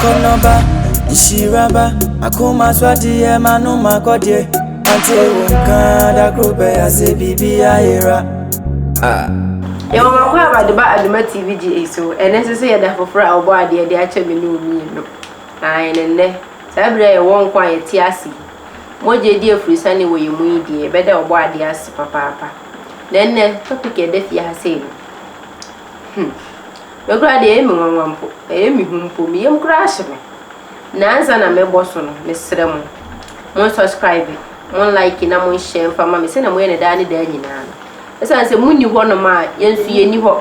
Akɔnnɔ ba, nhyira ba, m'akoma so adeɛ, m'anom akɔdeɛ. Mante wo nka, da koro bɛyɛ ase, biribi ayera. Ah. Yɛwɔ Makuaba de ba Adoma TV gye ei so ɛnɛ nso sɛ yɛ da foforɔ a wɔbɔ adeɛ de akyɛ me ne wo mmienu ae ne nnɛ saa bere a yɛwɔ nko a yɛte ase yi mogya di afurusane wɔ yɛn mu yi deɛ yɛbɛda ɔbɔ adeɛ ase papaapa na nnɛ topic a ɛda fie ha sei no hmm Me koraa deɛ ɛyɛ me nwanwa mpo, ɛyɛ me hu mpo, me yam koraa hye me na ansa na mɛbɔ so no, mesrɛ mo, mon subscribe, mon like na mon share mfa ma me sɛdeɛ moyɛ no daa ne daa nyinaa no. Ɛsiane sɛ monni hɔnom a, yɛn nso yɛnni hɔ.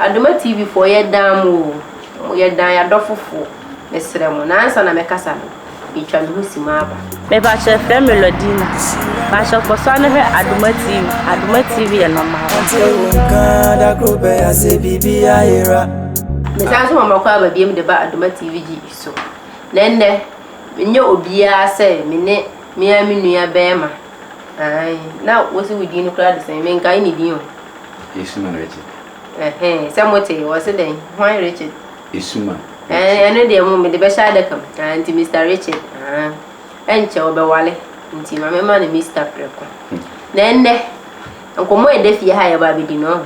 Adoma TV foɔ, yɛdan mo o, yɛdan yɛn adɔfofoɔ, mesrɛ mo, na ansa na mɛkasa no, Metwa me ho si mu aba. Mepakyɛ yɛfrɛ me Lordina. Pakyɛ kɔ so a ne hwɛ Adoma TV. Adoma TV yɛ normal. Ɔte wo nka da koro pɛ ya sɛ biribi ayera. Mesan so mama kɔ aba biam de ba Adoma TV gyi so. Na ɛnnɛ menyɛ obiara sɛ me ne me ara me nua bɛɛma. Ae na wose wo din no koraa de sɛn? Menkae ne din o. Yesu Mano Richard. Ɛhɛɛ sɛ motee? Ɔse dɛn? Hwan Richard? Esum a Ɛɛ, ɛte. ɛno deɛ mo, mede bɛhyɛ adaka mu. Ah, nti Mister Richard, ah, ɛnkyɛ ɔbɛwale, nti ma memma no Mister Preko. Na ɛnnɛ, nkɔmmɔ a ɛda fie ha a yɛba abɛdi no, ɔho.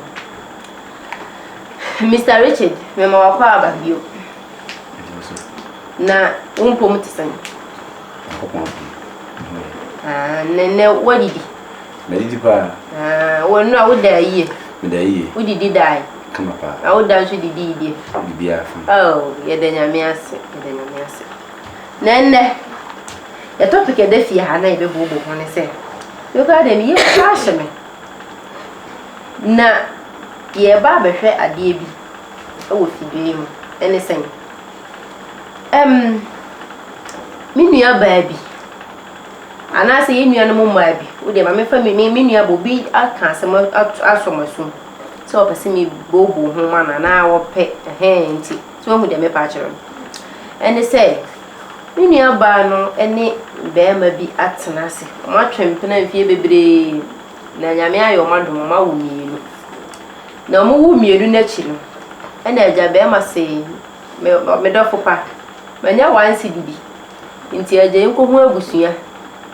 Mister Richard, mema w'akɔ aba bio. Ɛgye so. Na wo mpom te sɛn? Nyankopɔn adom, me ho yɛ. Ah, na ɛnnɛ, woadidi? Madi di paa. Haa, w'anu a woda ayie. Meda ayie. Wodidi dae. Kama paa. Na woda nso didi idie. Biribiara fine. Oh, yɛda Nyame ase, yɛda Nyame ase. Na ɛnnɛ, yɛ topic a ɛda fie ha na yɛbɛbooboo ho ne sɛ, me koraa deɛ meyɛ kura ahyɛ me. Na yɛreba abɛhwɛ adeɛ bi wɔ fidua yi mu. Ɛne sɛn? Um, me nua baa bi. Anaasɛ yɛn nuanom mmaa bi, wo deɛ ma memfa me me nua bɔ, obi aka asɛm ato asɔ m'asom sɛ ɔpɛ sɛ mebobɔ nhoma no anaa ɔpɛ ɛhɛn nti, so woahu deɛ merepa akyerɛ no? Ɛne sɛ, me nuabaa no ne barima bi atena ase, wɔatwe mpena mfeɛ bebree, na Nyame ayɛ wɔn adom, wɔawo mmienu. Na wɔwo mmienu no akyi no, ɛna agya barima see, Me ɔ me dɔfo pa, manya wansi do bi. Ntsi agya yenkohu abusua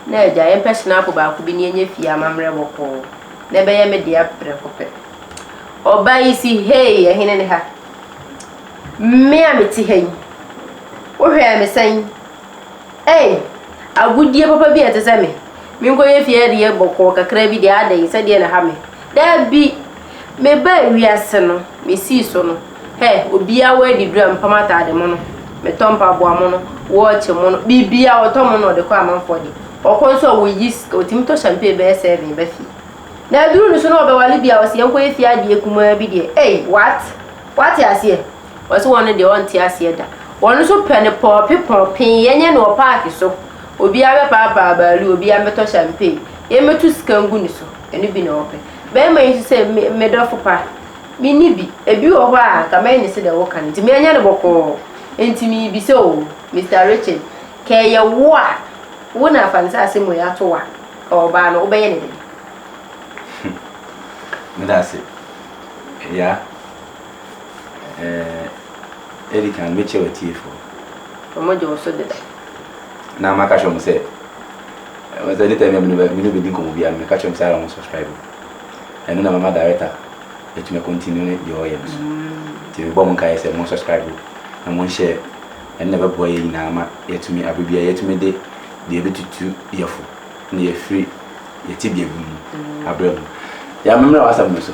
na agya yɛmpɛ shenapple baako bi na yɛnyɛ fie amammerɛ bɔkɔɔ na ɛbɛyɛ me dea prɛko pɛ. Ɔbaa yi se, Hey, ɛhene ne ha? Me a mete ha yi, wohwɛɛ me sɛn? Ei, agodie papa bi a ɛte sɛ me! Menkɔyɛ fie adeɛ bɔkɔɔ kakra bi deɛ adɛn, sɛdeɛ na ɛha me? Dabi! Mebaa wiase no, mesii so no, hɛ, obiara wɔ adidura, mepam ataade mono, metɔ mpaboa mono, wɔɔkye mono, biribiara ɔtɔ mono na ɔde kɔ amanfoɔ deɛ. Ɔkɔ nso a ɔyi sika, ɔtumi tɔ hyɛmpee bɛyɛ sɛven ba fie. Na aduru no so na ɔbɛwale bi a ɔse yɛnkɔyɛ fie adeɛ kumaa bi deɛ, ei, what? Woate aseɛ? Ɔse wɔno deɛ ɔnte aseɛ da. Wɔno nso pɛ no pɔɔpe pɔɔpe, yɛnyɛ no wɔ park so, obiara bɛpaapaa baalu, obiara bɛtɔ champagne, yɛmmɛtu sika ngu no so, ɛno bi na wɔpɛ. Bɛɛma yi nso sɛ, me me dɔfo pa, menni bi, ɛbi wɔ hɔ a nka mɛyɛ no sɛdeɛ woka no, nti meɛnyɛ no bɔkɔɔ, nti meebisa oo, Mister Richard, kɛ ɛyɛ wo a, wo na Afansase mu yi ato wo a, kɛ ɔbaa no, wobɛyɛ no dɛn? Medase, ɛyaa. Eh, edi kan mekyia w'atiefo. Wɔn gye wo so deda. Na maka kyerɛ wɔn sɛ, wɔn sɛ ne tɛm yɛ me ne bedi nkɔmɔ biara no meka kyerɛ wɔn sɛ ara wɔn subscribe. Ɛno na mama director atumi continue ne deɛ ɔyɛ no so. Nti mebɔ wɔn nkaeɛ sɛ wɔn subscribe na wɔn share. Ɛno na ɛbɛboa yɛn nyinaa ma yɛatumi abere biara yɛatumi de deɛ ɛbɛtutu yɛn fo na yɛafiri yɛn tebea bi mu abrɛ mu. Yɛn mmerɛ w'asɛm no so.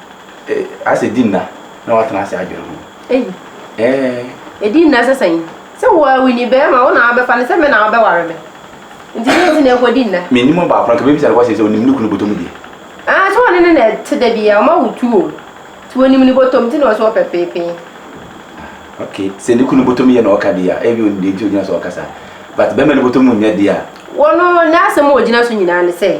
Eh, asɛ di nna na watena ase adwene ho. Eyi. Eh. Edi nna sɛ sɛn? Sɛ wo awi ni bɛrima wo na abɛfa ne sɛ me na abɛware me. Nti ne nti na ɛkɔ di nna. Me nim ɔbaako na ka bɛbisa no kɔ sɛ sɛ onim ne kunu bɔtɔ mu deɛ. Ah, sɛ ɔne ne na ɛte da bi a, ɔma wo tu o. Ti onim ne bɔtɔ mu ti na ɔsɛ ɔpɛ peepee. Ah, ok, sɛ ne kunu bɔtɔ mu yɛ na ɔka deɛ a, ebi onim deɛ nti ogyina so ɔka saa. But bɛrima ne bɔtɔ mu nyɛ deɛ a. Wɔno, ne asɛm a ogyina so nyinaa ne sɛ.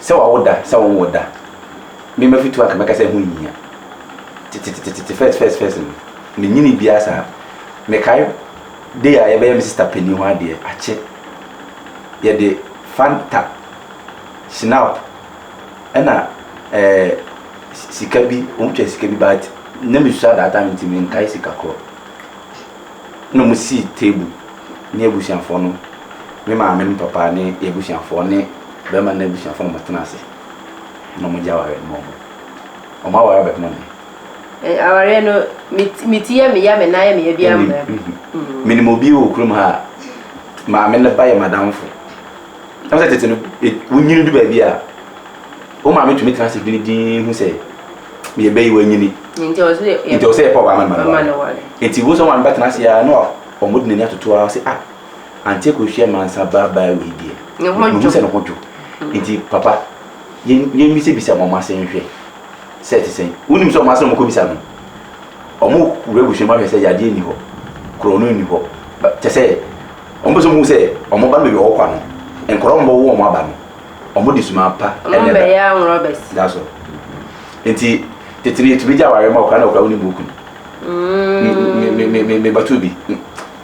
Sɛ wawo da, sɛ wɔnwo da. Me Mafitu anka mɛka sɛ ɛho nhia. Tetetetete first first first no, menyinii biara saa. Mekae day a yɛbɛyɛ me sista panin hɔ adeɛ, akye. Yɛde Fanta, Schnapp ɛna ɛɛ sika bi, wɔtwaa sika bi but na mesua that time nti menkae sika korɔ. Ɛna wɔsii table. ne abusuafoɔ no, me maame ne papa ne yɛn abusuafoɔ ne barima no abusuafoɔ na wɔtena ase na wɔgye awareɛ no ma wɔn. Wɔn awareɛ abɛka ma me. Eh, awareɛ no, me ti, me ti yɛ me ya, me nan yɛ me ya, biara Menim, mmra me. mhm. Mm. Menim obi wɔ kurom ha a, maame no ba yɛ m'adamfo. Ɛwɔ sɛ tete no, e- wonyini du baabi a, wo maame tumi tena ase dwene dinn hu sɛ, yɛn ba yi wanyini, Nti ɛwɔ sɛ yɛ, yɛ. nti ɛwɔ sɛ yɛpɛ ɔbaa ma no ma no Mama ware. no ware. Nti wohu sɛ wo maame bɛtena ase ara na wa. Wɔde n'ani atoto ara se ah Auntie Kosua Mansa baa baa wei deɛ mehu sɛ ne ho dwo nti papa yɛn bisa bisa wɔn ase nhwɛ sɛ ɛte sɛn. Wonim sɛ wɔn ase na wɔn kɔ bisa no wɔn wura abusua mu ahwɛ sɛ yadeɛ nni hɔ korɔ no nni hɔ kyɛ sɛ wɔn pɛ sɛ wɔn hu sɛ wɔn ba no baabi a wɔkɔ no nkwadaa wɔn bɛwo wɔn aba no wɔn de suman pa na ɛba. That's all. Nti tete no yɛtumi gye awareɛ ma wo koraa na wokora wonim buuku no mebato bi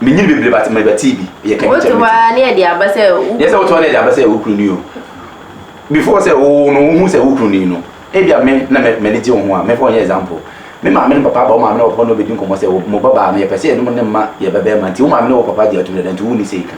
menyini bebree but mebɛtee bi yɛ kɛmi kyɛ wotoa ne ɛde aba sɛ yɛ sɛ wotoa ne ɛde aba sɛ wo kunu ni o before sɛ wo no wohu sɛ wo kunu ni no ebi a me na m'ani gye wo ho a mefa ɔnyɛ example me maame ne papa aba wo maame ne papa na ɔbɛdi nkɔmmɔ sɛ mo babaa no yɛpɛ sɛ yɛnom ne mma yɛ bɛbɛɛma nti wo maame ne wo papa gye atum dada nti wo ni sɛ yɛka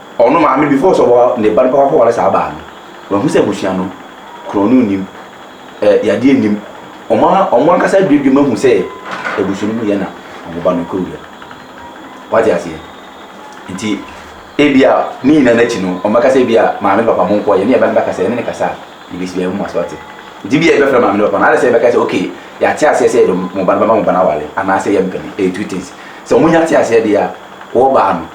Ɔno maame before sɛ ɔbɛwa ne ba no papa kɔware saa baa no wahu sɛ abusua no korɔno nnim ɛ yadeɛ nnim ɔmo a ɔmo ankasa aduadua mu ahu sɛ abusua no mu yɛ na ɔmo ba no kɔ wura mu wate aseɛ nti ebia ne nyinaa no akyi no ɔmo bɛka sɛ ebia maame papa mo nkɔ yɛ ne yɛ ba no bɛkasa yɛ ne ne kasa ebesi bia ɛmu ase wate nti bia yɛbɛfrɛ maame ne papa no adɛ sɛ yɛbɛka sɛ okay yɛate aseɛ sɛ yɛde mo ba no bɛma mo ba no aware anaasɛ yɛmpɛ no ɛyɛ two things sɛ ɔmo nya te aseɛ deɛ a wɔbaa no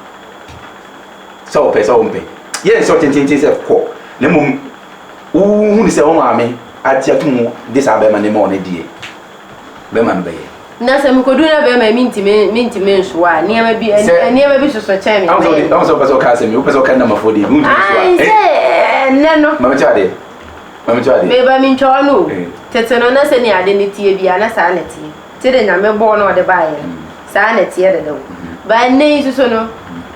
sɛ ɔpɛ sɛ ɔmpɛ. Yɛ nsɛ ɔtententen sɛ kɔ, na mmom wohunu sɛ wo maame agye ato mu de saa bɛrima no rema wo no deɛ, bɛrima no bɛyɛ. Na sɛ mekɔduru na bɛrima yi mentumi mentumi nsow a, nneɛma bi nneɛma bi soso kyɛn me. Ahun sɛ ɔde ahun sɛ ɔpɛ sɛ ɔka asɛm yi, wopɛ sɛ ɔka nnamafoɔ deɛ bi wontumi nsow a. Ayi sɛ ɛnɛ no. Maame kyɛ adeɛ. Maame kyɛ adeɛ. Meba mentwa ɔno o. Tete no na sɛnea ade no teɛ biara na saa na ɛteɛ. Sɛdeɛ Nyame bɔɔ na ɔde baeɛ no, saa ara na ɛteɛ dada o. But ɛnnɛ yi nso so no,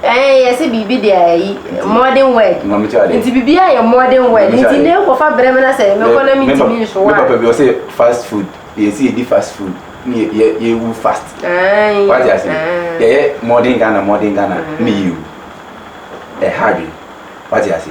ɛɛ, yɛse biribi deɛ ayi, modern world. Maame ti adeɛ. Nti biribiara yɛ modern world. Maame ti Nti adeɛ. na ɛkɔfa berɛ mu na sɛ Me- mekɔ na me pa- mentumi nsoa me a. papa bi ɔsɛ fast food yɛn si yɛdi fast food ne yɛ- yɛ- yɛwu fast Ae, wate ase ae. yɛyɛ modern ghana modern ghana ne yɛwu ɛha adwene wate ase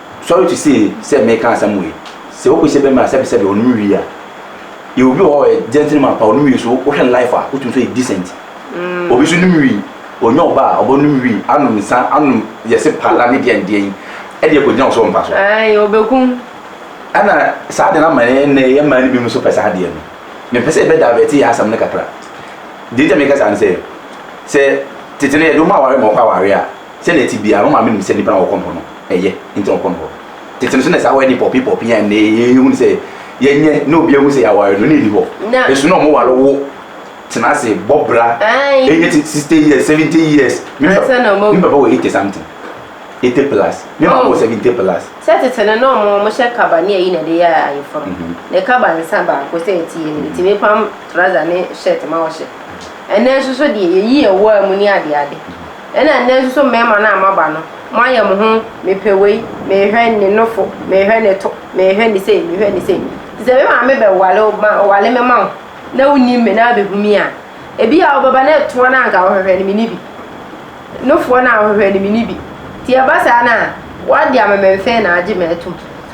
Sorry to say sɛ meka asɛm wei, sɛ wokɔ sɛ bɛma sɛbesɛbe ɔnom wie a, yɛwɔ bi wɔ hɔ a ɔyɛ gentleman paa, ɔnom wie so wohwɛ no life a wotumi sɛ ɔyɛ decent. Obi nso nom wie, ɔnya ɔba a ɔbɛnom wie anom nsa anom yɛse paala ne deɛn deɛn ɛde akɔgyina wo so wɔ mpa so. Ae, ɔbɛkum. Ɛna saa adeɛ no ama yɛn nnɛ yɛn mmaa no binom nso pɛ saa adeɛ no. Mempɛ sɛ yɛbɛ divert yɛn asɛm no kakra. Deɛ nti a meka saa ne sɛ, sɛ tete no yɛde wo ma aware ma wokɔ awareɛ a, sɛdeɛ ɛte biara wo maame nim sɛ nnipa na wɔkɔ mpo no. Ɛyɛ, enti ɔkɔ no hɔ. Tete no so na saa wɛɛden pɔɔpee-pɔɔpee yi a nnɛ yɛhu no sɛ yɛnyɛ na obiara hu sɛ yɛaware no, na enni hɔ. Ɛso na wɔware wo, tena ase, bɔ bra, ɛnyɛ sixty years, seventy years. Me papa wɔ eighty something, eighty plus, me maame wɔ seventy plus. Sɛ tete no na wɔhyɛ kaba ne ayi na ɛde yɛ ayeforo. Ne kaba nsa baako sɛ ɛteɛ no, etumi pam trouser ne shirt ma ɔhyɛ. Ɛnnɛ nso so deɛ, yɛyi yɛn wɔ mu ne adeade. Ɛna nnɛ nso so mmarima no a moaba no, moayɛ mo ho mepɛ wei, mehwɛ ne nofo, mehwɛ ne to, mehwɛ ne sei, mehwɛ ne sei. Nti sɛ me maame bɛware wo ma ɔware me ma wo na wonim me na abɛhu me a, ebi a wobɛba na ɛtoa no a anka wohwehwɛ no menni bi. Nofoɔ no a wohwehwɛ no menni bi. Nti ɛba saa no a, woade amememfee na agye me atom.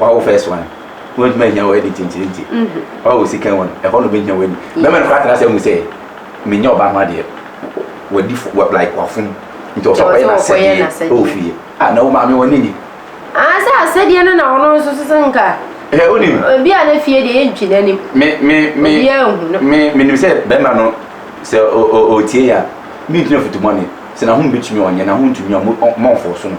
Wa wo first one. Wọ́n ntumi ahia wọ́n editing nkyiri nti. Wa wo second one. Ẹhọ na obehia w'ani. Bẹẹma no koraa tena ase ahu sẹ, menyɛ ɔbaa ho adeɛ. Wadi fo, wa like wafom. Nti ɔsɛ ɔkɔyɛ n'asɛdeɛ wɔ fie. Ah, na wo maame w'ani nye? Ah, sɛ asɛdeɛ no na ɔno nso so sɛ nka. Hwɛ, wonim. Obi a ne fie deɛ yɛntwi n'anim. Me, me, me. Obiara nhu no. Me, menim sɛ bɛɛma no sɛ ɔtie yɛ a, mentumi afutu bɔne. Sɛ n'ahomu betumi a ɔnyɛ, n'ahomu ntumi a, mɔ, mɔmfɔɔso no.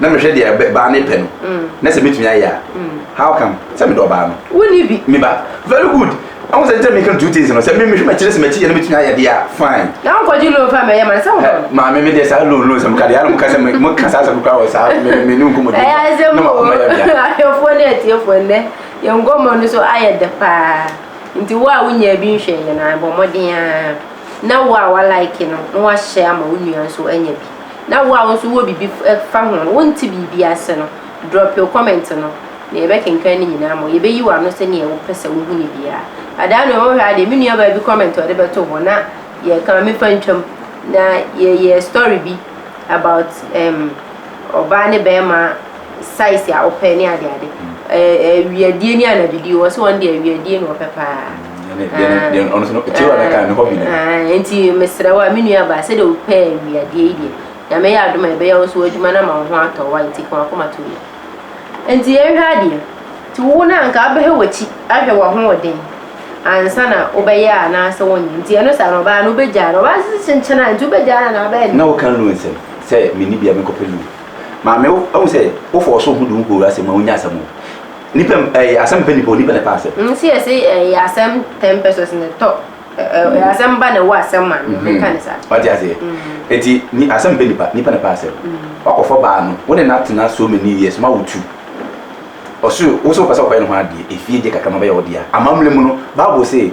na mehwɛ deɛ bɛ baa ne pɛ no na sɛ mɛtumi ayɛ a how come sɛ medɔ ɔbaa no wonni bi me ba very good ɛho sɛ nkyɛ meka no two things no sɛ mehwɛ makyerɛ sɛ makyi yɛ no mɛtumi ayɛ deɛ a fine na wonkɔgye loan fa mɛyɛ ma no sɛ wodɔ no maame me deɛ saa loan loan sɛ meka deɛ ana moka sɛ moka saa sɛ mekora wɔ saa me ne nkɔmmɔdi ɛyɛ asɛm na makoma yɛ bia ahwɛfoɔ ne atiefoɔ nnɛ yɛn nkɔmmɔ no so ayɛ dɛ paa nti wo a wonyaa bi nhwɛ yɛ na bɔ mmɔden a na wo a walike no na wahyɛ ama wo nua nso anya bi Na wo a wo nso wowɔ biribi fa ho no, wonte biribi ase no, drop your comment no, na yɛbɛkenkan ne nyinaa ma wo. Yɛbɛyi w'ano sɛdeɛ wopɛ sɛ wohu no biara. Adaa no, wohwɛ ara deɛ, me nuabaa bi comment a ɔde bɛto hɔ, na yɛka mefa ntwam, na yɛyɛɛ story bi about um ɔbaa ne bɛrima size a wopɛ ne ade ade awiadie ne anadwodie wɔ sɛ wɔn de awiadie na wɔpɛ paa nti mesrɛ wo a me nua baa sɛdeɛ wopɛ awiadeɛ yi deɛ na mɛyɛ adom a ɛbɛyɛ wo nso w'adwuma no ama wo ho atɔ wa nti ka wakoma to mu nti yɛnhwɛ adeɛ nti wo no anka wobɛhwɛ w'akyi ahwɛ w'ahoɔden ansa na wobɛyɛ a anaasɛ wonyɛ nti ɛno saa na ɔbaa no wobɛgyaa no ɔbaa sese nkyɛn a nti wobɛgyaa no na wobɛyɛ na woka lu nsɛm sɛ menni bia mekɔpɛ lu Maame wo ahu sɛ wo fɔɔso ho de wo kɔwura asɛm mu a wonyɛ asɛm o. Nipa ɛɛ asɛm mpɛ nipa o nipa na ɛpɛ asɛm. Me se yɛse ɛyɛ asɛm ten pesos na ɛtɔ ɛɛ asɛm ba na ɛwɔ asɛm ma no me ka no saa. Wate aseɛ eti ni asɛm mpɛ nipa nipa na ɛpɛ asɛm. Wakɔ fɔ baa no wo ne no atena so many years ma wo tu ɔse wo se wo pɛ sɛ wo kɔyɛ ne ho adeɛ efie deɛ kakra ma bɛyɛ wo dea amammerɛ mu no bible se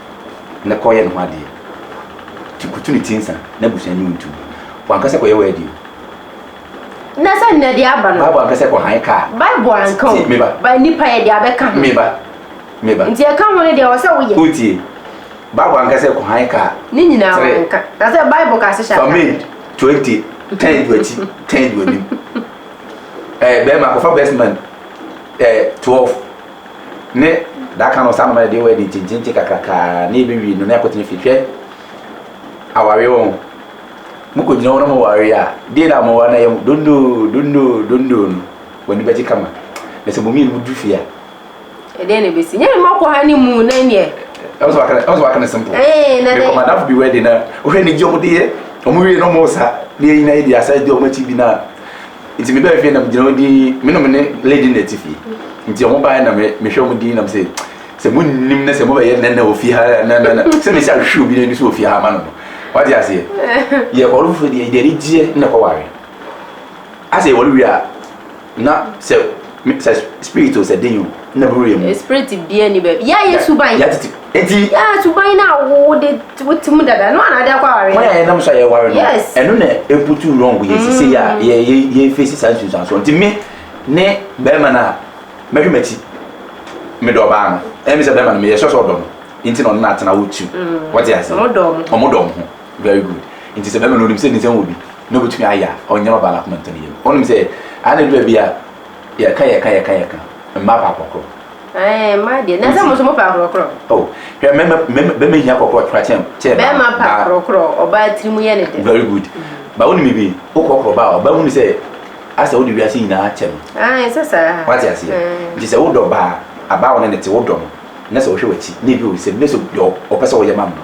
na kɔ yɛ ne ho adeɛ ti kutu ne ti nsa na abusua nyi wo ntu wanka sɛ kɔyɛ w'adi o na sɛ nnɛ de aba no bible anka sɛ kɔ han kaa bible anka o ba nipa yɛ de abɛka ho meba meba nti ɛka ho no deɛ wɔ sɛ woyɛ wotie bible anka sɛ kɔ han kaa ne nyinaa wanka na sɛ bible ka se hyɛ aka fame 20 tɛn du akyi tɛn du anim ɛɛ bɛrima kɔfa best man ɛɛ 12 Ne daka no ɔsan noma yɛ deɛ wɔ adi ntintinti kakraka na ebewie no na ɛkɔ tena fie hwɛ aware wɔn mo kɔ gyina wɔn na mo ware a deɛ na mo ware na yɛ mo dondo dondo dondo no wɔn ani bɛgye kama na sɛ mo mmienu mo du fie a. ɛdeɛ na ebesi nyɛ mma kɔ ha ne mu na neɛ. ɛwɔ sɛ wakana ɛwɔ sɛ wakana simple. ɛɛ na de mekɔ madafo bi wɔ ɛdi na ohwɛ ne gye wɔn de yɛ wɔn wie na wɔn sa ne yɛ nyina yɛ di asa di wɔn akyi bi na. Nti me bɛɛ fie na me gyina hɔ dii me nom ne lady na ɛte fie nti ɔmo baa na me me hwɛ ɔmo dii na me sɛ sɛ mo nim na sɛ mo bɛyɛ nɛnɛ wɔ fie ha na na na sɛ me sɛ ahwɛ obi na ɛni so wɔ fie ha ama no no wate aseɛ yɛ kɔ ɔno foforo deɛ deɛ ne gyeɛ na kɔ ware asɛ yɛ wɔre wie a na sɛ Me sɛ spirit o sɛ den o na buru yɛ mu. Spirit bia ni bɛ yɛ ayɛ suban. Yɛ titi eti. Yɛ suban na wo wo de wo ti mu dada no anade akɔ aware. Wɔn a yɛ nam so ayɛ ware no ɛno na eputu wrong yɛ sisi yɛ a yɛ yɛ yɛ face saa nsunsuanso nti me ne bɛrima no a mɛhwɛ m'akyi medɔ ɔbaa no ɛmi sɛ bɛrima no meyɛ sure sɛ ɔdɔ no nti na ɔno na atena wo tu wɔte ase wɔn dɔ wɔn ho. Very good. Nti sɛ bɛrima no onim sɛ ne nsam wɔ bi na obetumi ayɛ a, ɔnyɛ ɔbaa no akoma ntɛm yam. Onim sɛ ade no baabi a yɛka yɛka yɛka yɛka mmaa pɛ akorɔkorɔ. Ɛɛ mmaa deɛ na sɛ mo nso mo pɛ akorɔkorɔ. Oh hwɛ mmarima mmarima bɛrima hia akorɔkorɔ kora kyɛn kyɛn baa. Bɛrima pɛ akorɔkorɔ ɔbaa tiri mu yɛ ne dɛ. Very good. Ba onim bi wokɔkorɔ ɔbaa a ɔbaa hunu sɛ asɛ wode wiase nyinaa akyɛ no. Ae ɛsɛ saa. Wate aseɛ nti sɛ wodɔ baa abaa wɔne ne te wodɔ no na sɛ ɔhwɛ wakyi na ebi wɔ nsam na sɛ deɛ ɔpɛ sɛ woyɛ ma no no.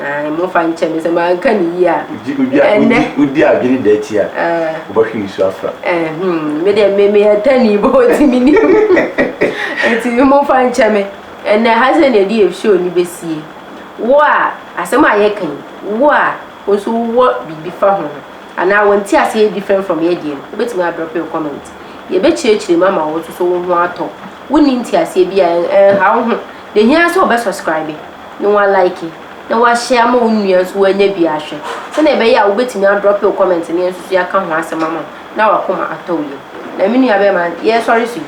Ae, momfa nkyɛ me sɛ manka no yie a, ɛnnɛ. Wodi adwene da ti a, wobɛhwe nsu afra. Ɛhum, me deɛ me meyɛ tani bɔ ɔti me nim. Ɛti momfa nkyɛ me, ɛnnɛ ha sɛ na ɛdi ɛfisio ni bɛsie. Wo a, asɛm a yɛka yi, wo a, wo nso wowɔ biribi fa ho. Anaa wo nte aseɛ yɛ different from yɛ deɛ no, wobɛtumi adrɔpe wo comment. Yɛbɛkyerɛkyerɛ mu ama wo nso so wo ho atɔ. Wonni nteaseɛ bi a, ɛnha wo ho. Deɛ ɛhia ara sɛ wobɛ subscribe. na woalaeke, na woahyɛ ama wo nua nso wanya bi ahwɛ, sɛnea ɛbɛyɛ a wobɛtumi adrɔpe wo kɔmɛnt ne nso so yɛaka ho asɛm ama wo na wakoma atɔ wo yam. Na me nua bɛrima, yɛresɔre so yi,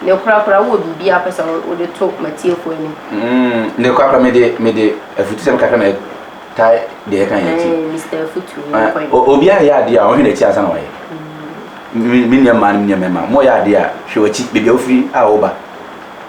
ne korakora wowɔ biribi a wopɛ sɛ wode to m'atiefoɔ anim? Mm, ne korakora mede, mede afutusɛm kakra na ɛtae deɛ ɛka yɛn akyi. Mr. Afutu, yɛnkɔ yi. Obiara yɛ adeɛ a ɔhwɛ n'akyi ansa na wayɛ. Mm. Me nua mmaa ne me nua mmarima, mo yɛ adeɛ a hwɛ w'akyi, baabi a wofiri a woba.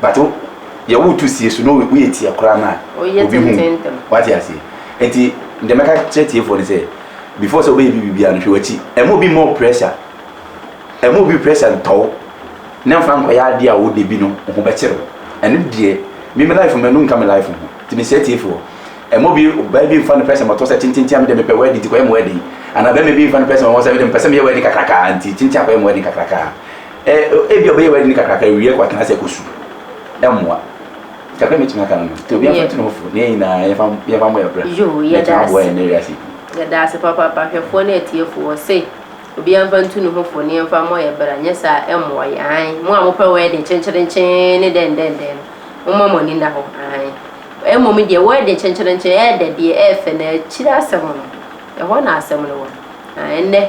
But wo deɛ woreto sie so na woyɛ tia koraa no a obi hu wate aseɛ nti deɛ mɛka kyerɛ tiefoɔ no sɛ before sɛ wobɛyɛ biribiara no hwɛ w'akyi ɛma obi mmɔ pressure ɛma obi pressure ntɔ wo na mfa nkɔyɛ adeɛ a wode bi no ho bɛkyere wo ɛno deɛ me me life mɛno nka me life ho nti mesrɛ tiefoɔ ɛma obi ɔbaa bi mfa no pressure mɔtɔ sɛ kyenkyenkyen a mede mepɛ wɛde nti kɔyɛ mo wɛde anaa bɛma bi mfa no pressure mɔ sɛ mede mepɛ sɛ meyɛ wɛde kakrakaa nti kyenkyen akɔyɛ mo wɛde kakrakaa Ebia ɔbɛyɛ wedding kakraka awie kɔ atena ase akɔ su. Ɛmmoa. Kakra mɛtumi aka no no. Nti obi amfa ntu ne ho fo. Ne yɛn nyinaa yɛmfa yɛmfa mmɔ yɛn bra. Na ɛtumi aboa yɛn nnɛ wiase yi. Yɛda ase papaapa ahwɛfoɔ ne atiefoɔ. Ɔse obi amfa ntu ne ho fo ne yɛmfa mmɔ yɛn bra. Nyɛ saa a ɛmmoa yɛn. Aane. Mo a mopɛ wedding kyenkyerenkyee ne dɛndɛndɛn no, momma mo ani nna hɔ. Aane. Mmom deɛ wedding kyenkyerenkyee, ɛyɛ dɛ deɛ, ɛyɛ fɛ na akyire asɛm no, ɛhɔ na asɛm no wɔ. Aane. Ɛnnɛ.